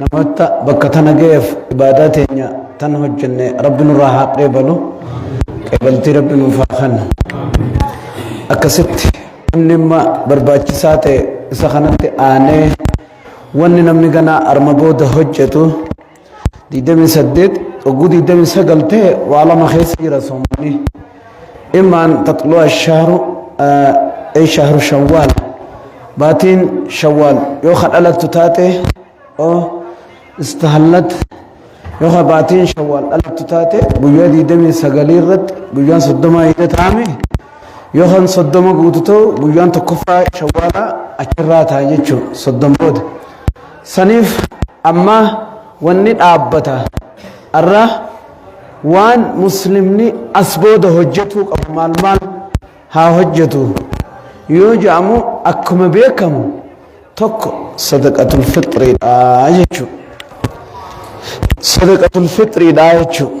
namoota bakka tana ga'eef ibaadaa teenya tan hojjenne rabbi nurraa haa qeebalu qeebaltii rabbi nuuf haa kennu akkasitti namni amma barbaachisaa ta'e isa kanatti aanee wanni namni ganaa arma booda hojjetu 28 oguu 29 ta'e waa lama keessa jira soommanni immaan taxluu ashaaru ee shahru shawwaal baatiin shawwaal yoo ka dhalattu taate oo istahallat yoo ka baatiin shawwaal dhalattu taate guyyaa 29 irratti guyyaan 30 hidha taame yoo kan 30 guutu ta'u guyyaan tokkoffaa shawwaalaa achirraa ta'a jechuudha 30 booda Saniif amma wanni dhaabbata arra waan muslimni as booda hojjetuu qabu maal maal haa hojjetu yoo jedhamu akkuma beekamu tokko sadaqatul fixriidha jechuudha. Sadaqatul fixriidha jechuudha.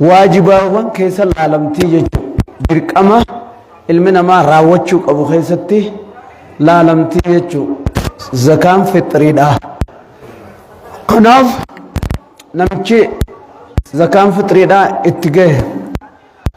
waajibaawwan keessa laalamtii jechuudha. Dirqama ilmi namaa raawwachuu qabu keessatti laalamtii jechuudha. Zakaan fixiriidha. Kanaaf namichi zakaan fixiriidha itti gahe.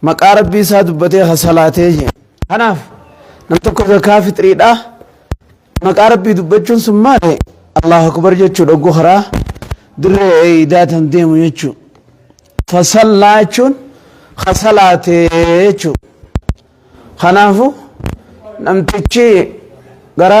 maqaa rabbii isaa dubbatee ka salaatee jeen kanaaf nam tokko zakaa fixriidhaa maqaa rabbii dubbachuun sun maale allahu akbar jechuu dhoggu karaa dirree eeydaa tan deemu jechuu fasallaa jechuun ka salaatee jechuu kanaafu namtichi gara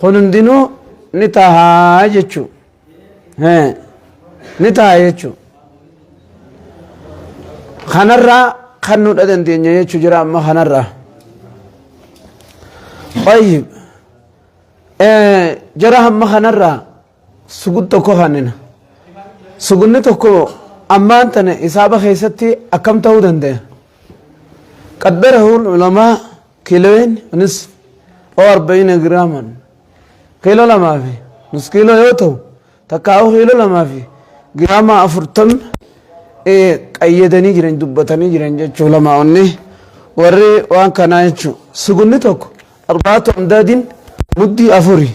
Kun hundinuu ni tahaa jechuu. Hee, Ni taha jechuu. Kanarraa kan nudha dandeenya jechuu jira amma kanarraa. Tayyib. Eh, Jara hamma kanarraa Sugud tokko kannina. Sugunni tokko ammaan tana hisaaba keessatti akkam ta'uu dandaya? Qaddarahuun ulamaa kiiloon nis oo arba'ina giraaman kiiloo lamaa fi nus kiiloo yoo ta'u takkaa'uu kiiloo lamaa fi giraamaa afurtamni qayyadanii jiran dubbatanii jiran jechuu lamaa onni warri waan kanaa jechuu sugunni tokko arbaatu amdaadiin muddii afurii.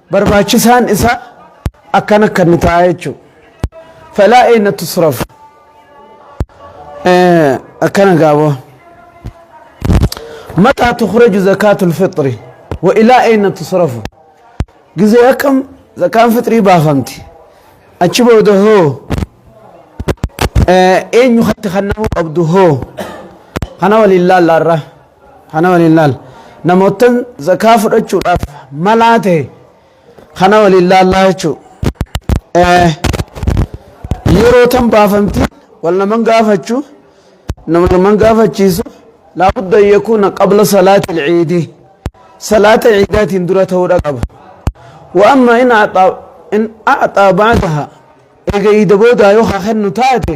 barbaachisaan isaa akkan akka inni ta'a jechuu falaa eena tusraf akkana gaaboo mataa tukhraju zakaatul fixri wa ilaa eena tusrafu gizee akkam zakaan fixrii baafamti achi booda hoo eenyu hatti kannamuu qabdu hoo kana waliin laallaarra Kana waliin laal. Namoottan zakaa fudhachuudhaaf malaa ta'e kana waliin laallaa jechuu. Yeroo tan baafamti wal naman gaafachuu nama naman gaafachiisu laabudda yakuuna qabla salaati ilciidii salaata ciidaatiin dura ta'uudha qaba. Wa amma in a'xaa ba'daha eega iida boodaa yoo haa kennu taate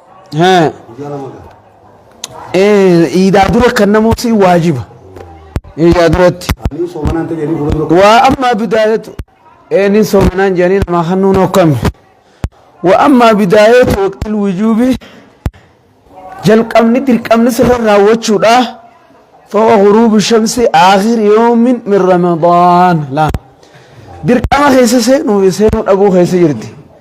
Haa. guyyaa lama gala. Eh, iidaa dura kan namuu si waajiba. Iidaa duratti. Ani soomanaan ta'e jedhanii fuula dura Waa ammaa bidaayatu. Eh, ni soomanaan jedhanii namaa hannuun hokkame. Waa ammaa bidaayatu waqtil wujuubi. Jalqabni dirqamni sirra raawwachuudha. Fooqa ghuruubi shamsi aakhir yoomin min ramadaan. Laa. Dirqama keessa seenuu fi seenuu dhabuu keessa jirti.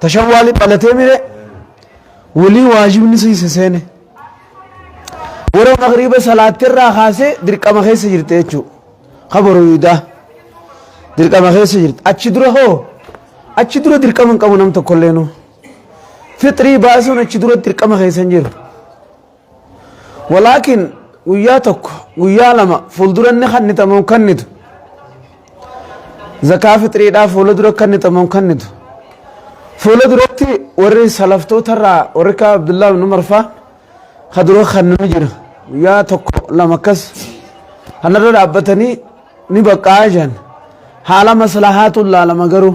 tashawwaali dhalatee mire walii waajibni siise seene yeroo magriiba salaatte irraa kaasee dirqama keessa jirte jechuu kabaru yuudaa dirqama keessa jirte achi dura hoo achi dura dirqama hin qabu nam tokkollee nuu fixrii baasuun achi dura dirqama keessa hin jiru Walaakin guyyaa tokko guyyaa lama fuuldura inni kannita moo hin kannitu? Zakaa fixriidhaa fuula dura kannita moo hin kannitu? Fuula duratti warri salaftoota irraa warri akka Abdullaa ibn Umar faa ka dura kannu ni jira. Guyyaa tokko lama akkas kanarra dhaabbatanii ni baqqa'aa jiran. Haala maslahaatu laalama garuu.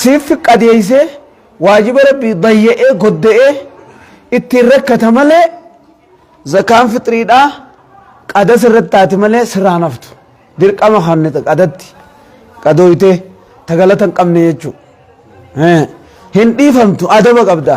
Siif qadeeysee waajiba rabbii dayya'ee godda'ee ittiin rakkata malee zakaan fixriidhaa qada sirratti taati malee sirraa hin haftu dirqama kanne qadatti qadooytee tagalata hin qabne jechuu hin dhiifamtu adaba qabda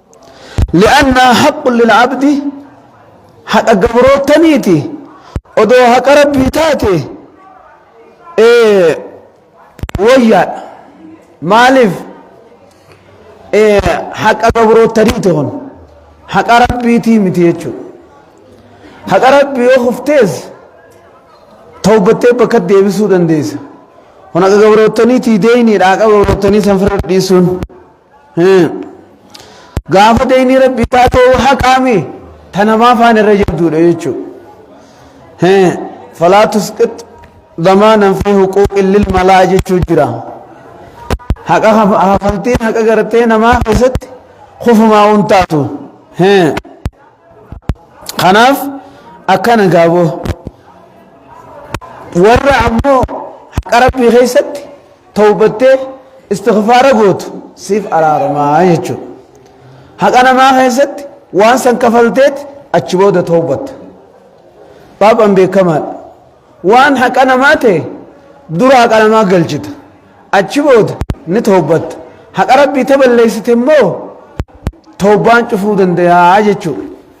li'annaa haqqun lil'abdi haqa gabroottaniiti odoo haqa rabbii taate woyyaadha maaliif haqa gabroottaniiti kun haqa rabbiitii miti jechuudha haqa rabbii yoo kuftees tawbattee bakka deebisuu dandeessa kun haqa gabroottaniitii deeyniidha haqa gabroottanii san firra dhiisuun Gaafa deynii rabbi taatee yoo haqaame ta namaa faan irra jabduudha jechuu. Falaa tusqit damaanan fi huquuqin lil malaa jechuu jira. Haqa hafaltiin haqa gartee namaa keessatti kufumaa hin taatu. Kanaaf akkana gaaboo. Warra ammoo haqa rabbii keessatti tawbattee istighfaara gootu siif araaramaa jechuudha. Haqa namaa keessatti waan san kafalteeti achi booda tawbatta. Baabaan beekamaadha. Waan haqa namaa ta'e dura haqa namaa galchita. Achi booda ni tawbatta. Haqa rabbii ta balleessite immoo tawbaan cufuu dandayaa jechuudha.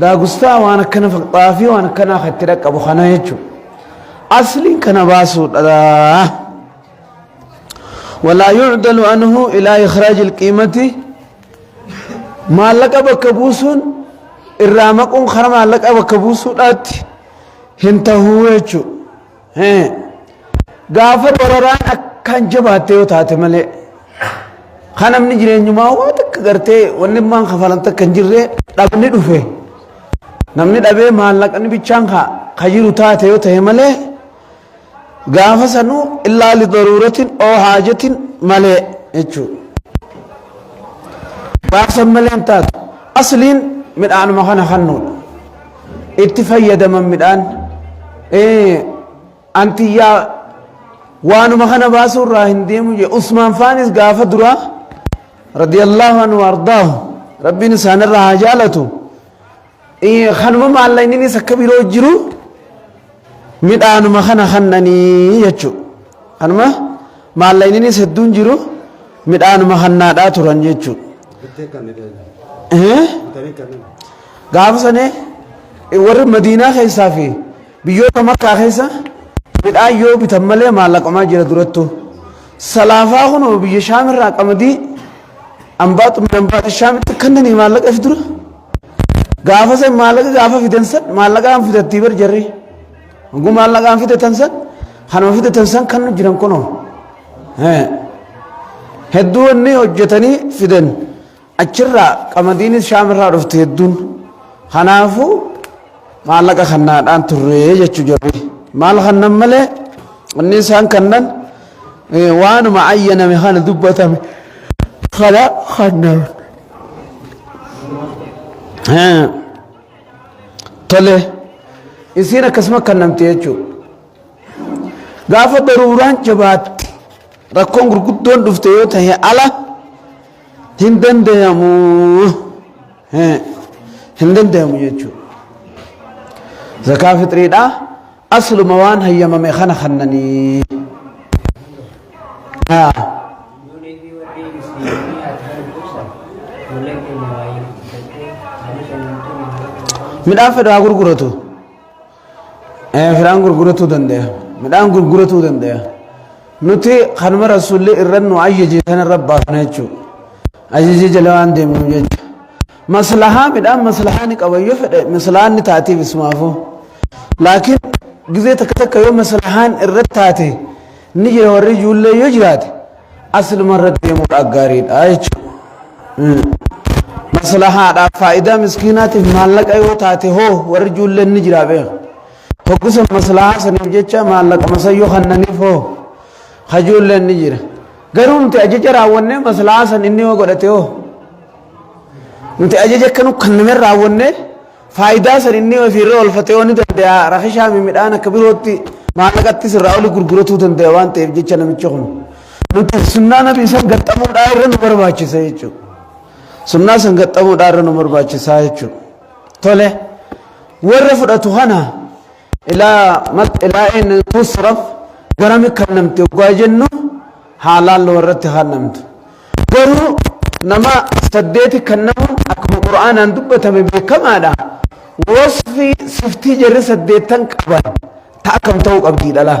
Daagustaa waan akkana fakkataa fi waan akkanaa kan itti dhaqqabu kana jechuudha. Asliin kana baasuudha. Walaa yuudalu anhu ilaa ikhraaj ilqiimati maallaqa bakka buusuun irraa maquun karaa maallaqa bakka buusuudhaatti hin tahuu jechuudha. Gaafa dararaan akkaan jabaatte yoo taate malee kan namni jireenyumaa waa takka gartee wanni maan kafalan takka hin jirre dhabni dhufe namni dhabee maallaqni bichaan ka jiru taate yoo ta'e malee gaafa sanuu illaa lidaruuratin oo haajatin malee jechuudha. Baabsan malee hin taatu asliin midhaanuma kana kannuudha. itti fayyadaman midhaan antiyyaa waanuma kana baasuu irraa hin deemu jee usmaan faanis gaafa duraa radiyallaahu anhu ardaahu rabbiin isaanirra haa jaalatu kanuma maallaqninis akka biroo jiru midhaanuma kana kannanii jechuu kanuma maallaqninis hedduun jiru midhaanuma kannaadhaa turan jechuu Gaafa sanii warri Madiinaa keessaa fi biyyoota Makkaa keessa midhaan yoo bitan malee maallaqamaa jira durattuu. Salaafaa kunoo biyya Shaamirraa qamadii ambaatu min ambaata Shaamitti kannanii maallaqa fi dura. Gaafa san maallaqa gaafa fidan san maallaqaan fidattii bar jarri. Hanguu maallaqaan fidatan san kanuma fidatan san kan jiran kunoo. Hedduu wanni hojjetanii fidan. Achirraa qamadiinis shaamirraa dhufte hedduun. Kanaafuu maallaqa kannaadhaan turre jechuu jirri. Maal kannan malee inni isaan kannan waanuma ayyaname kana dubbatame kana kannan. Tole isiin akkasuma kannamte jechuudha. Gaafa daruuraan jabaatte rakkoon gurguddoon dhufte yoo ta'e ala. hin dandayamu hin dandayamu jechuu zakaa fixriidha asluma waan hayyamame kana kannanii midhaan fedhu haa gurguratu Firaan gurguratuu dandaya. Midhaan gurguratuu dandaya. Nuti kanuma rasuulli irra nu ajajje sana irra baafna jechuudha. Ajajje jala waan deemnu jechuudha. Maslahaa midhaan maslahaa ni qaba yoo fedhe maslahaan ni taatiif isumaafuu. Laakiin gizee takka takka yoo maslahaan irra taate Ni jira warri ijoollee yoo jiraate aslumarra deemuudha gaariidha jechuudha. Maslahaadhaaf faayidaa miskiinaatiif maallaqa yoo taate hoo warri ijoolleen ni jira beeka. Hoggisa maslahaa saniif jecha maallaqa masayyoo kannaniif hoo ijoolleen ni jira. Garuu nuti ajaja raawwannee maslahaa san inni yoo godhate hoo nuti ajaja akka nu kanname raawwannee Faayidaa san inni ofii irra oolfatee yoo ni dandaya rakishaa mi midhaan akka birootti maallaqattis irraa oli gurguratuu dandaya waan ta'eef jecha namichi kun. Nuti sunnaa nabii san gaxxamuudhaa irra nu barbaachisa jechuudha. Sunnaa san gaxxamuudhaa irra nu barbaachisa jechuudha. Tole warra fudhatu kana Ilaa mat ilaa'een tusraf garami kannamti oggaa jennu haalaan loo irratti kannamtu. Garuu nama saddeeti kannamuun akkuma Qur'aanaan dubbatame beekamaadha. Wasfii siftii jarri saddeettan qaban ta akkam ta'uu qabdi dhalaa.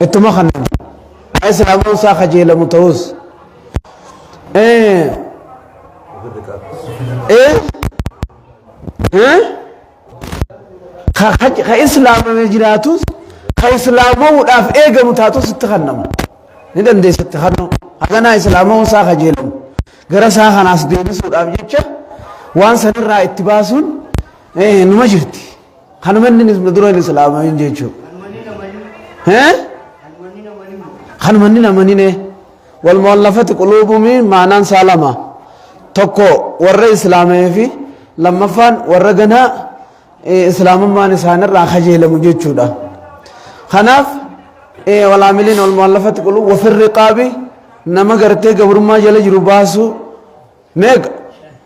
Ittuma kanaan kan islaamuun isaa kajeelamu ta'us ee ee ee ka ka- ka islaamame jiraatus ka islaamamuudhaaf eegamu taatus itti kannama ni dandeessa itti kannoo haganaa islaamamuun isaa kajeelamu gara isaa kanaas deebisuudhaaf jecha waan sanirraa itti baasuun ee numa jirti. Kan manni na dura hin islaamamin jechuudha. Hee? Kan manni na manine. Wal mu'allafati quluubumi maanaan isaa lama. Tokko warra islaamee fi lammaffaan warra ganaa eh, islaamummaan isaanirraa kajeelamu jechuudha. Kanaaf eh, wal aamiliin wal mu'allafati quluub wafirri qaabi nama gartee gabrummaa jala jiru baasuu meeqa?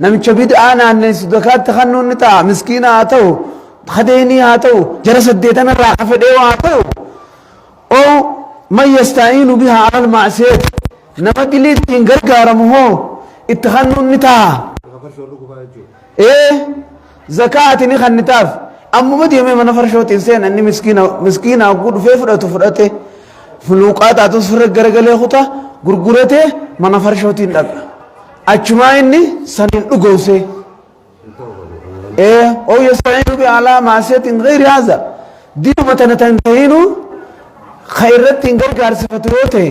Namicha bid'aa naanneessu zakaatti kannuun ni ta'a. Miskiina haa ta'u, kadeenii haa ta'u, jara saddeetan irraa ka fedhee haa ta'u. Ow man yastaa'iinu bihaa alal ma'asiyati. Nama dilii ittiin gargaaramu hoo itti kannuun ni ta'a. Ee. Zakaa ati ni kannitaaf ammuma deemee mana farshootiin seena inni miskiina miskiina hogguu dhufee fudhatu fudhate fuluuqaa taatu sirra garagalee kuta gurguratee mana farshootiin dhaqa achumaa inni saniin dhugoosee ee oo yasta'iinu bi alaa maasiyatin gayri haza diinuma tana tan tahiinuu ka irratti hin gargaarsifatu yoo ta'e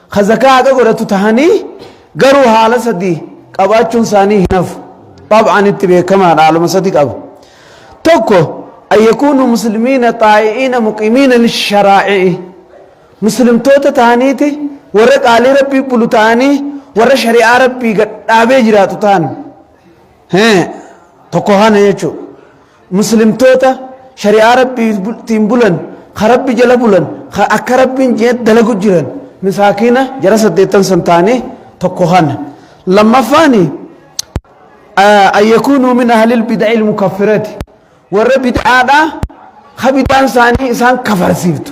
Ka zakaa haqa godhatu tahanii garuu haala sadii qabaachuun isaanii hin hafu. Xab'aan itti beekamaadha haaluma sadi qaba. Tokko an yakuunu muslimiina xaa'i'iina muqimiina lisharaa'i'i. Muslimtoota tahaniiti warra qaalii rabbii bulu tahanii warra shari'aa rabbii gad dhaabee jiraatu tahan. Hee tokko kana jechuudha. Muslimtoota shari'aa Rabbiitiin bulan, ka Rabbi jala bulan, ka akka Rabbiin je'etti dalagu jiran, misaakiina jara saddeettan san taane tokko kana. Lammaffaani an yakuunuu min ahlil bid'il mukaffirati warra bid'aadhaa ka bid'aan isaanii isaan kafarsiiftu.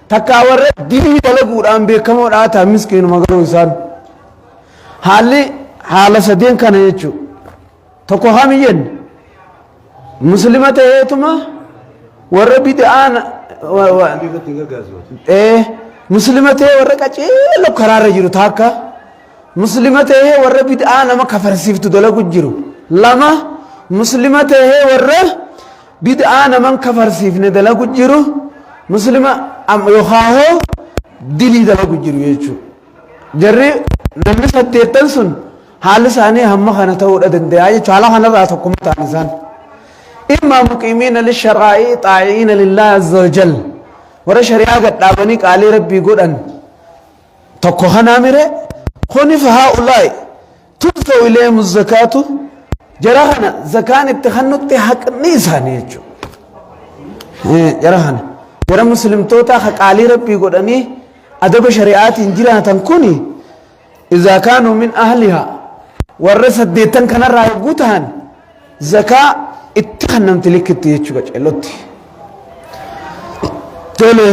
Takkaa warra dilii dalaguudhaan beekamoo dhaataa miskiinuma garuu isaan haalli haala sadeen kana jechuu tokko kam hin jenne muslima ta'eetuma warra bid'aan muslima ta'ee warra qaceelo karaarra jiru taakka muslima ta'ee warra bid'aa nama kafarsiiftu dalagu jiru lama muslima ta'ee warra Bid'aa naman kafarsiifne dalagu jiru muslima yookaan hoo dilii dalagu jiru jechuudha. Jarri namni saddeettan sun haalli isaanii hamma kana ta'uudha danda'a jechuudha. Haala kanarraa tokkuma ta'an isaan. Immaa muqiimiina lisharaa'i xaa'iina lillahi azza wa jal. Warra shari'aa gad dhaabanii qaalii rabbii godhan tokko kanaa mire kuni fahaa ulaa'i. Tuftahu ilayhimu zakaatu jara kana zakaan itti hannutti haqni isaanii jechuudha. Jara kana jara muslimtootaa ka qaalii rabbii godhanii adaba shari'aatiin jiraatan kuni izaa kaanuu min ahlihaa warra saddeettan kanarraa yogguu tahan zakaa itti hannamti likkitti jechuudha ceellotti. Tole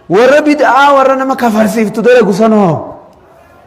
warra bid'aa warra nama kafarsiiftu dalagu sanoo.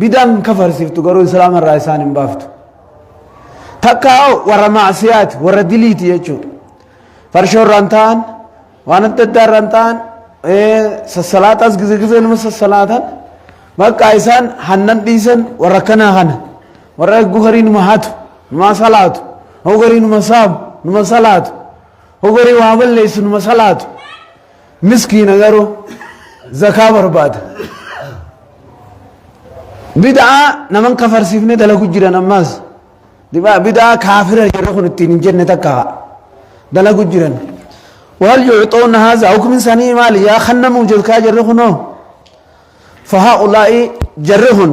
Bid'aan kafarsiftu garuu islaama irraa isaan hin baaftu. Takkaa hoo warra maasiyaati, warra diliiti jechuudha. Farshoo irraan ta'an, waan adda addaa irraan ta'an, sassalaaxaas gizee gizee nama sassalaatan, bakka isaan hannan dhiisan warra kanaa kana. Warra eeguu garii numa hatu, numa salaatu, hoo garii numa saamu, numa salaatu, hoo garii waa balleessu numa salaatu. miskiina garuu zakaa barbaada bid'aa naman kafarsiifne dalagu jiran ammaas Dibaa- bid'aa kaafira jedhe kun ittiin hin jenne takka dalagu jiran wal yuuxoon haaza hukmin sanii maali yaa kannamuu jirkaa jirri kunoo fahaa ulaa'i jarri kun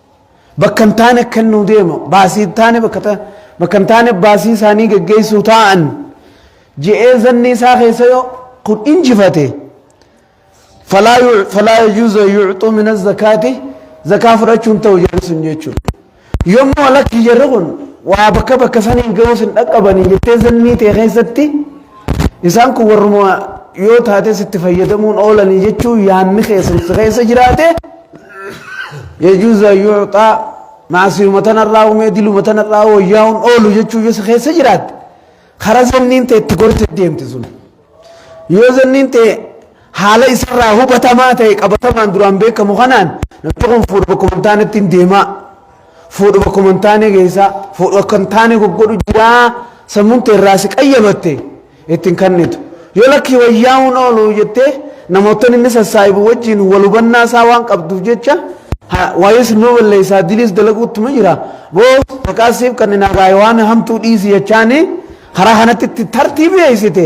Bakka hin taane akka inni deemu baasii hin taane bakka ta- bakka hin taane baasii isaanii geggeessuu taa'an je'ee zanni isaa keessa yoo kun injifate falaa yu- falaa yajuuzu an yuuxuu min azzakaati zakaa fudhachuun ta'u jarri sun jechuudha. Yommuu lakki jarri kun waa bakka bakka sanii ga'uus hin dhaqqabanii jettee zannii ta'e keessatti Isaan kun warruma yoo taates itti fayyadamuun oolanii jechuu yaanni keessan si keessa jiraate yajuuza yuuxaa maasiyuma tanarraa uumee diluma tanarraa wayyaa'uun oolu jechuu yoo si keessa jiraatte karaa zanniin ta'e itti gorte deemti sun. Yoo zanniin ta'e haala isarraa hubatamaa ta'e qabatamaan duraan beekamu kanaan namni kun fuudha bakkuma hin taanetti hin deemaa Fuudhu bakkuma hin taane geessaa, fuudhu akka hin taane goggodhu jiraa sammuun tee irraa si qayyamatte ittiin kannitu. Yoo lakkii wayyaa'uun oolu jettee namoottan inni sassaa'ibu wajjin wal hubannaa isaa waan qabduuf jecha ha- waa'ee sinuma balleessaa diliis dalaguuttuma jira. Boos maqaa siif kan hin hagaa'e waan hamtuu dhiisi jechaanii karaa kanatti itti tartiibeessite.